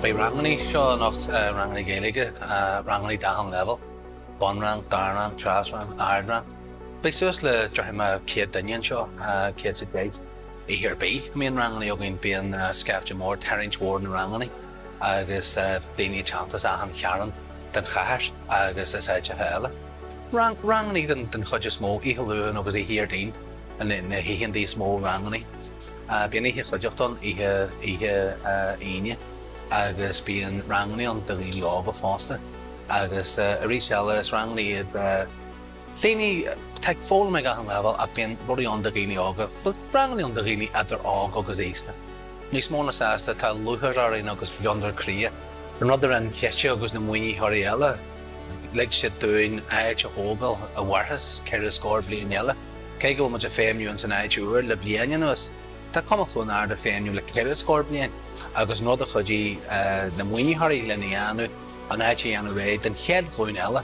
Beidh rangannaí seo anocht, rangannaí Gaeilge, rangannaí d'achan leibhéal, bunrang, dara rang, treas rang, ardrang. Beidh suas le dornán thar chéad duine anseo, céad is a deich. Oíche ar bith a mbíonn rangannaí againn bíonn scaifte mór ag tarraingt mhór na rangannaí agus daoine ag teacht as achan chearn den chathair agus as áiteacha eile. Rangannaí den chuid is mó oíche Luain agus oíche Dhéardaoin na hoícheanntaí is mó rangannaí. Bíonn oíche chuideachta ann oíche Aoine agus bíonn rangannaí ann do dhaoine óga fosta agus arís eile is rangannaí iad. daoine atá ag foghlaim ag achan leibhéal ach bíonn rudaí ann do dhaoine óga, bhuel, rangannaí ann do dhaoine idir óg agus aosta. Níos mó ná sásta tá lúcháir orainn agus gliondar croí. An rud a rinne an Ciste agus na maoinitheoirí eile, lig siad dúinn áit a thógáil a mhairfeas ceithre scór bliain eile. Cé go bhfuil muid ag feidhmniú ins an áit úr le bliain anuas, tá Cumann Chluain Ard ag feidhmniú le ceithre scór bliain agus an rud a chuidigh na maoinitheoirí linn a dhéanamh, an áit a dhéanamh réidh don chéad ghlúin eile.